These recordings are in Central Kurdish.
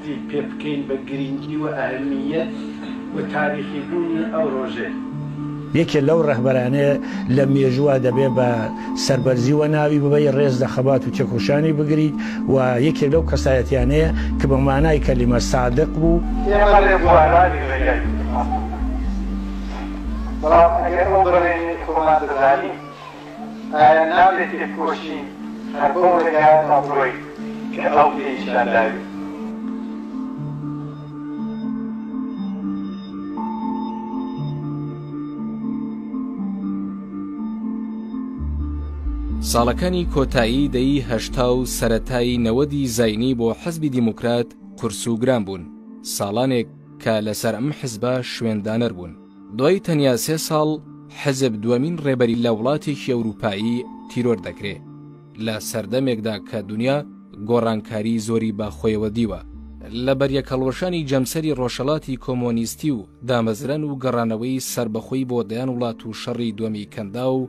بیر پێ بکەین بە گرینگی و ئەهمییەت و تاریخی بوونی ئەو ڕۆژەی. یەکێ لەو ڕەهبەرانەیە لە مێژووا دەبێ بە سەربەرزیوە ناوی ببەی ڕێز لە خەبات و تێکۆشانی بگریت و یەکێ لەو کەسایەتیانەیە کە بە مانای کەلیمە سادق بوو. ئێمە ڕێبوارانی ڕێگای نیشتمان بوو، بەڵام ئەگەر ئەو بڕەیەی خۆمان دەزانین، ئایا نابێ تێبکۆشین هەر بەو ڕێگایەدا بڕۆین کە ئەو پێی نیشان داوین؟ ساڵەکانی کۆتایی دەیی هەشتا و سەرەتای نەوەدی زینی بۆ حزبی دیموکرات قورس و گران بوون ساڵانێک کە لەسەر ئەم حزبە شوێندانەر بوون دوای تەنیا سێ ساڵ حزب دووەمین ڕێبەری لە وڵاتێکی ئەوروپایی تیرۆر دەکرێ لە سەردەمێکدا کە دونیا گۆڕانکاری زۆری بە خۆیەوە دیوە لە بەریەکهەڵوەشانی جەمسەری ڕۆژهەڵاتی کۆمۆنیستی و دامەزران و گەڕانەوەی سەربەخۆی بۆ دەیان وڵات و شەڕی دوەمی کەنداو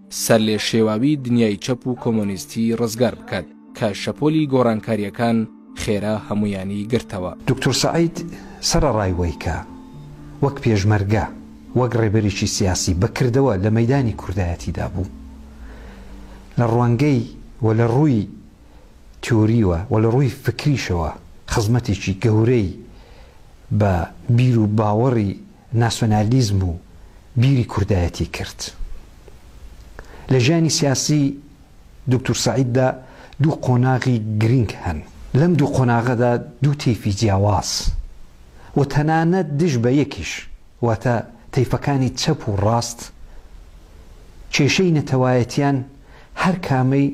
سەرلێشێواوی دنیای چەپ و کۆمۆنیستی ڕزگار بکات کە شەپۆلی گۆڕانکارییەکان خێرا هەموویانی گرتەوە. دوکتور سەعید سەرەڕای وەی کە وەک پێشمەرگە، وەک ڕێبەرێکی سیاسی بە کردەوە لە مەیدانی کوردایەتیدا بوو، لە ڕوانگەی و لە ڕووی تیۆریوە و لە ڕووی فکریشەوە خزمەتێکی گەورەی بە بیر و باوەڕی ناسیۆنالیزم و بیری کوردایەتی کرد. لە ژیانی سیاسی دوکتور سەعیددا دوو قۆناغی گرینگ هەن. لەم دوو قۆناغەدا دوو تەیفی جیاواز و تەنانەت دژ بە یەکیش واتە تەیفەکانی چەپ و ڕاست کێشەی نەتەوایەتیان هەر کامەی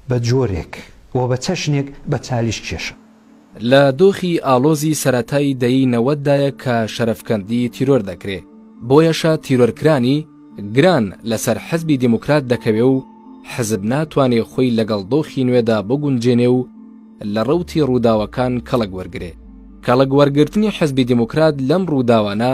بە جۆرێک و بە چەشنێک بە چالیش کێشا. لە دۆخی ئاڵۆزی سەرەتای دەیەی نەوەد دایە کە شەرەفکەندی تیرۆر دەکرێ، بۆیەشە تیرۆرکرانی گران لەسەر حزبی دێموکرات دەکەوێ و حزب ناتوانێ خۆی لەگەڵ دۆخی نوێدا بگونجێنێ و لە ڕەوتی ڕووداوەکان کەڵک وەرگرێ. کەڵک وەرگرتنی حزبی دێموکرات لەم ڕووداوانە،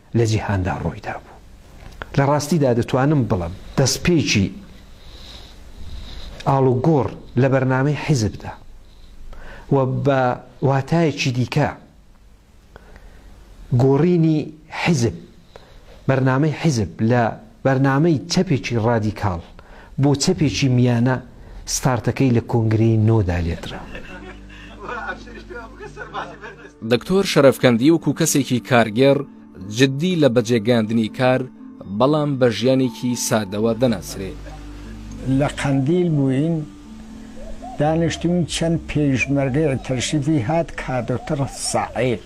لە جیهاندا ڕوویدا بوو. لە ڕاستیدا دەتوانم بڵێم دەستپێکی ئاڵوگۆڕ لە بەرنامەی حیزبدا و بە واتایەکی دیکە گۆڕینی حیزب، بەرنامەی حیزب لە بەرنامەی چەپێکی ڕادیکاڵ بۆ چەپێکی میانە ستارتەکەی لە کۆنگرەی نۆ دا لێدرا. دکتۆر شەرەفکەندی وەکو کەسێکی کارگێڕ جددی لە بەجێگەیاندنی کار بەڵام بە ژیانێکی سادەوە دەناسرێ. لە قەندیل بووین دانیشتووین چەند پێیشمەرگەی تەشریفی هات کادوتڕ سەعید.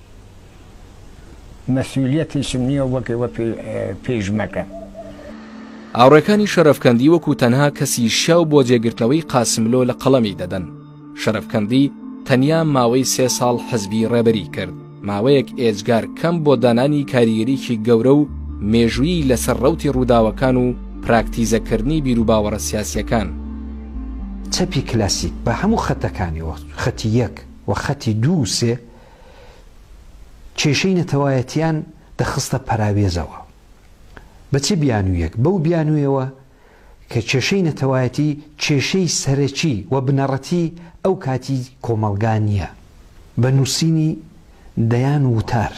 مەسولیەتیشم نیە وەک ئێوە پیش مەکەم. هاوڕێکانی شەرەفکەندی وەکو تەنها کەسی شیاو بۆ جێگرتنەوەی قاسملۆ لە قەڵەمی دەدەن. شەرەفکەندی تەنیا ماوەی سێ ساڵ حزبی ڕێبەری کرد، ماوەیەک ئێجگار کەم بۆ دانانی کاریگەریی گەورە و مێژوویی لەسەر ڕەوتی ڕووداوەکان و پراکتیزەکردنی بیروباوەڕە سیاسییەکان. چەپی کلاسیک بە هەموو خەتەکانیەوە، خەتی یەک و خەتی دوو و سێ، کێشەی نەتەوایەتیان دەخستە پەراوێزەوە. بە چ بیانوویەک؟ بەو بیانوویەوە کە کێشەی نەتەوایەتی کێشەی سەرەکی و بنەڕەتی ئەو کاتی کۆمەڵگا نییە. بە نووسینی دەیان وتار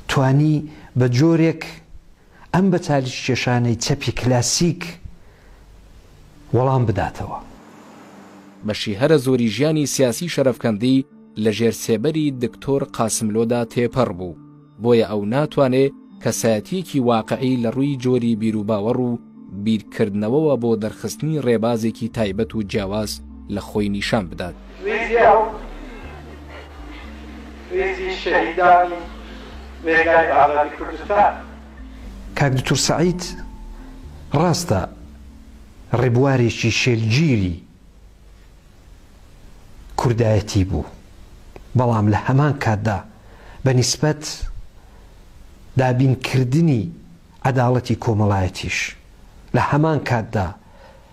توانی بە جۆرێک ئەم بە چالیککێشانەی چەپی کلاسیک وەڵام بداتەوە. بەشی هەرە زۆری ژیانی سیاسی شەرەفکەندی لە ژێر سێبەری دکتۆر قاسملۆدا تێپەڕ بوو، بۆیە ئەو ناتوانێ کەسایەتییەکی واقعی لە ڕووی جۆری بیروباوەڕ و بیرکردنەوەوە بۆ دەرخستنی ڕێبازێکی تایبەت و جیاواز لە خۆی نیشان بدات. ریزی ئەو ریزی شەهیدانی ڕێگای ئازادی کوردستان. کاک دکتور سەعید ڕاستە ڕێبوارێکی شێلگیری کوردایەتی بوو بەڵام لە هەمان کاتدا بە نیسبەت دابینکردنی عەداڵەتی کۆمەڵایەتیش لە هەمان کاتدا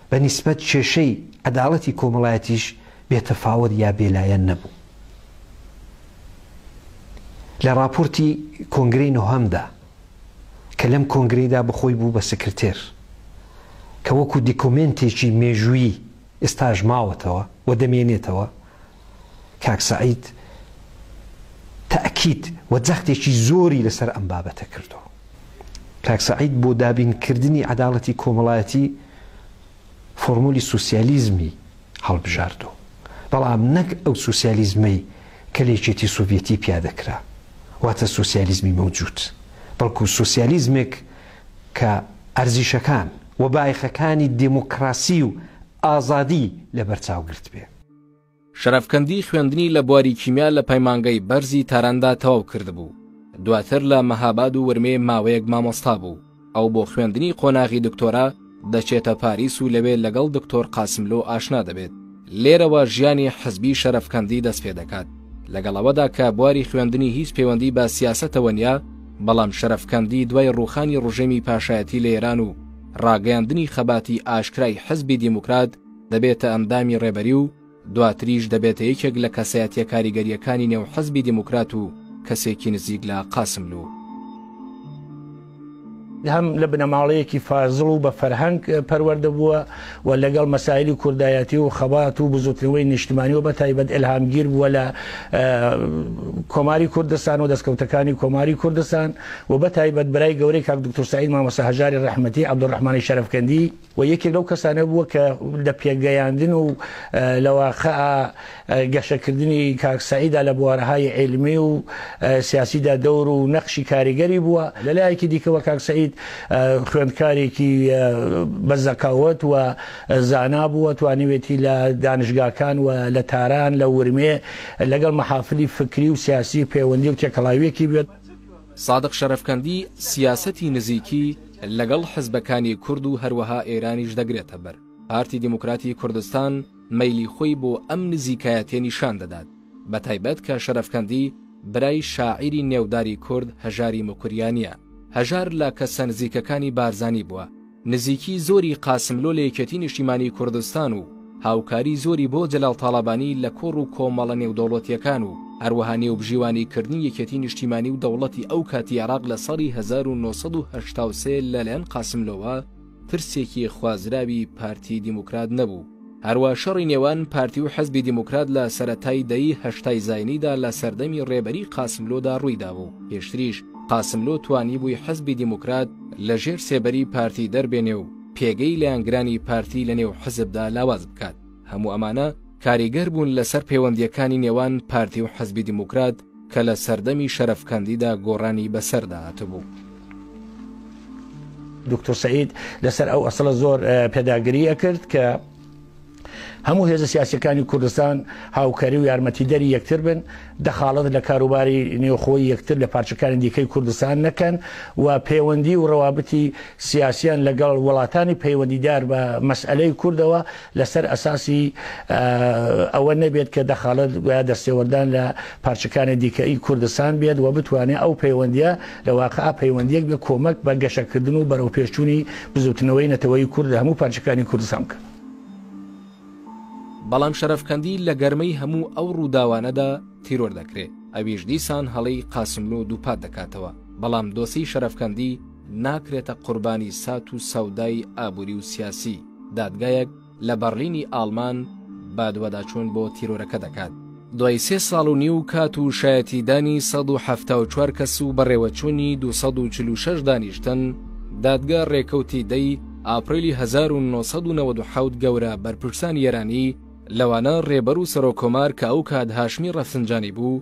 بە نیسبەت کێشەی عەداڵەتی کۆمەڵایەتیش بێ تەفاوەت یا بێ لایەن نەبوو. لە ڕاپۆرتی کۆنگرەی نۆهەمدا کە لەم کۆنگرەیدا بە خۆی بوو بە سکرتێر کە وەکوو دیکۆمێنتێکی مێژوویی ئێستاش ماوەتەوە و دەمێنێتەوە، کاک سەعید تەئکید و جەختێکی زۆری لەسەر ئەم بابەتە کردووە. کاک سەعید بۆ دابین کردنی عەداڵەتی کۆمەڵایەتی فۆرمۆلی سوسیالیزمی هەڵبژاردووە، بەڵام نەک ئەو سوسیالیزمەی کە لە یەکێتی سۆڤیەتی پیادە کرا، واتە سوسیالیزمی مەوجود، بەڵکو سوسیالیزمێک کە ئەرزیشەکان و بایەخەکانی دێمۆکڕاسی و ئازادی لەبەرچاو گرتبێ. شەرەفکەندی خوێندنی لە بواری کیمیا لە پەیمانگەی بەرزی تاراندا تەواو کردبوو، دواتر لە مەهاباد و ورمێ ماوەیەک مامۆستا بوو، ئەو بۆ خوێندنی قۆناغی دکتۆرا دەچێتە پاریس و لەوێ لەگەڵ دکتۆر قاسملۆ ئاشنا دەبێت، لێرەوە ژیانی حزبی شەرەفکەندی دەست پێ دەکات، لەگەڵ ئەوەدا کە بواری خوێندنی هیچ پەیوەندی بە سیاسەتەوە نیە، بەڵام شەرەفکەندی دوای ڕووخانی ڕژێمی پاشایەتی لە ئێران و ڕاگەیاندنی خەباتی ئاشکرای حزبی دیموکرات، دەبێتە ئەندامی ڕێبەری و دواتریش دەبێتە یەکێک لە کەسایەتیە کاریگەریەکانی نێو حزبی دیموکرات و کەسێکی نزیک لە قاسملوو. هەم لە بنەماڵەیەکی فازڵ و بە فەرهەنگ پەروەردە بووە و لەگەڵ مەسایلی کوردایەتی و خەبات و بزوتنەوەی نیشتمانی و بەتایبەت ئێلهامگیر بووە لە کۆماری کوردستان و دەستکەوتەکانی کۆماری کوردستان و بەتایبەت برای گەورەی کاک دکتۆر سەعید مامۆستا هەژاری ڕەحمەتی عەبدولڕەحمانی شەرەفکەندی و یەکێک لەو کەسانە بووە کە لە پێگەیاندن و لە واقع گەشەکردنی کاک سەعیدا لە بوارەهای عیلمی و سیاسیدا دەور و نەخشی کاریگەری بووە لە لایەکی دیکەوە کاک سەعید خوێندکارێکی بە زەکاوت و زانا بووە توانیوێتی لە دانشگاکان و لە تاران لە ورمێ لەگەڵ مەحافلی فکری و سیاسی پەیوەندی و تێکەڵاویەکی بێت. سادق شەرەفکەندی سیاسەتی نزیکی لەگەڵ حزبەکانی کورد و هەروەها ئێرانیش دەگرێتە بەر، پارتی دیموکراتی کوردستان مەیلی خۆی بۆ ئەم نزیکایەتیە نیشان دەدات، بە تایبەت کە شەرەفکەندی برای شاعیری نێوداری کورد هەژاری موکریانیە، هەژار لە کەسە نزیکەکانی بارزانی بووە، نزیکی زۆری قاسملۆ لە یەکێتی نیشتیمانی کوردستان و هاوکاری زۆری بۆ جەلال تاڵەبانی لە کۆڕ و کۆمەڵە نێودەوڵەتییەکان و هەروەها نێوبژیوانی کردنی یەکێتی نیشتیمانی و دەوڵەتی ئەو کاتی عێراق لە ساڵی هەزار و نۆ سەد و هەشتا و سێ لەلایەن قاسملۆوە پرسێکی خوازراوی پارتی دیموکرات نەبوو. هەروا شەڕی نێوان پارتی و حزبی دیموکرات لە سەرەتای دەیی هەشتای زاینیدا لە سەردەمی ڕێبەری قاسملۆدا ڕووی دابوو و پێشتریش قاسملۆ توانیبووی حزبی دیموکرات لە ژێر سێبەری پارتی دەربێنێ و پێگەی لایەنگرانی پارتی لە نێو حزبدا لاواز بکات. هەموو ئەمانە کاریگەر بوون لە سەر پێوەندییەکانی نێوان پارتی و حزبی دیموکرات، کە لە سەردەمی شەرەفکەندیدا گۆڕانی بەسەردا هاتبوو. دکتۆر سعید لەسەر ئەو ئەسڵە زۆر پێداگری ئەکرد کە هەموو هێزە سیاسەکانی کوردستان هاوکاری و یارمەتیدەری یەکتر بن دەخاڵت لە کاروباری نێوخۆی یەکتر لە پارچەکانی دیکەی کوردستان نەکەن و پەیوەندی و ڕەوابتی سیاسیان لەگەڵ وڵاتانی پەیوەندیدار بە مەسئلەی کوردەوە لەسەر ئەساسی ئەوە نەبێت کە دەخاڵەت گویا دەستێوەردان لە پارچەکانی دیکەی کوردستان بێت و بتوانێت ئەو پەیوەندیە لە واقع پەیوەندیەک بە کۆمەک بە گەشەکردن و بەرەوپێشچوونی بزوتنەوەی نەتەوەی کورد لە هەموو پارچەکانی کوردستان بکە. بەڵام شەرەفکەندی لە گەرمەی هەموو ئەو ڕووداوانەدا تیرۆر دەکرێ ئەویش دیسان هەڵەی قاسملوو دووپات دەکاتەوە بەڵام دۆسی شەرەفکەندی ناکرێتە قوربانی سات و سەودای ئابووری و سیاسی دادگایەک لە بەڕلینی ئاڵمان بادواداچوون بۆ تیرۆرەکە دەکات. دوای سێ ساڵ و نیو کات و شایەتیدانی سەد و حەفتا و چوار کەس و بەڕێوەچوونی دوو سەد و چل و شەش دانیشتن، دادگا رێکەوتی دەی ئاپریلی هەزار و نۆ سەد و نەوەد و حەوت گەورە بەرپرسانی ئێرانی لەوانە رێبەر و سەرۆککۆمار کە ئەو کات هاشمی رەفسنجانی بوو،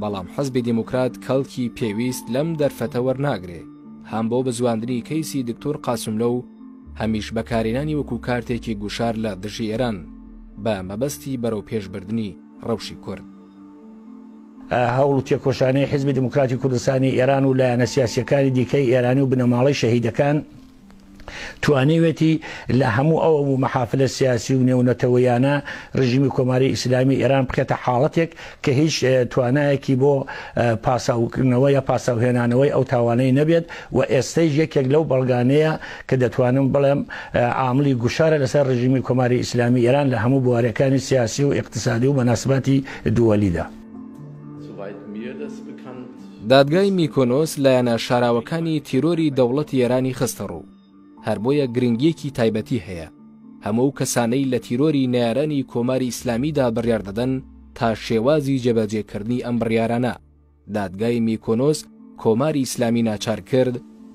بەڵام حزبی دیموکرات کەڵکی پێویست لەم دەرفەتە وەرناگرێ، هەم بۆ بزواندنی کەیسی دکتۆر قاسملۆ و هەمیش بەکارهێنانی وەکو کارتێکی گوشار لە دژی ئێران بە مەبەستی بەرەوپێشبردنی رەوشی کورد. هەوڵ و تێکۆشانی حزبی دیموکراتی کوردستانی ئێران و لایەنە سیاسییەکانی دیکەی ئێرانی و بنەماڵەی شەهیدەکان، توانیوێتی لە هەموو ئەو مەحافلە سیاسی و نێونەتەوەیانە ڕژیمی کۆماری ئیسلامی ئێران بکەتە حاڵەتێک کە هیچ توانایەکی بۆ پاساوکردنەوە یا پاساوهێنانەوەی ئەو تاوانەی نەبێت و ئێستەیش یەکێک لەو بەڵگانەیە کە دەتوانم بڵێم عاملی گوشارە لەسەر ڕژیمی کۆماری ئیسلامی ئێران لە هەموو بوارەکانی سیاسی و اقتصادی و مەناسباتی دووەلیدا. دادگای میکۆنۆس لایەنە شاراوەکانی تیرۆری دەوڵەتی ئێرانی خستە ڕوو، هەر بۆیە گرنگییەکی تایبەتی هەیە هەموو ئەو کەسانەی لە تیرۆری نەیارانی کۆماری ئیسلامیدا بڕیار دەدەن تا شێوازی جێبەجێکردنی ئەم بڕیارانە دادگای میکۆنۆس کۆماری ئیسلامی ناچار کرد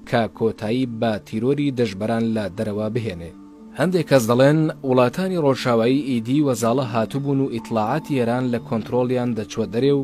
کە کۆتایی بە تیرۆری دژبەران لە دەرەوە بهێنێ. هەندێک کەس دەڵێن وڵاتانی ڕۆژاوایی ئیدی وەزاڵە هاتبوون و ئیتڵاعاتی ئێران لە کۆنترۆڵیان دەچووە دەرێ و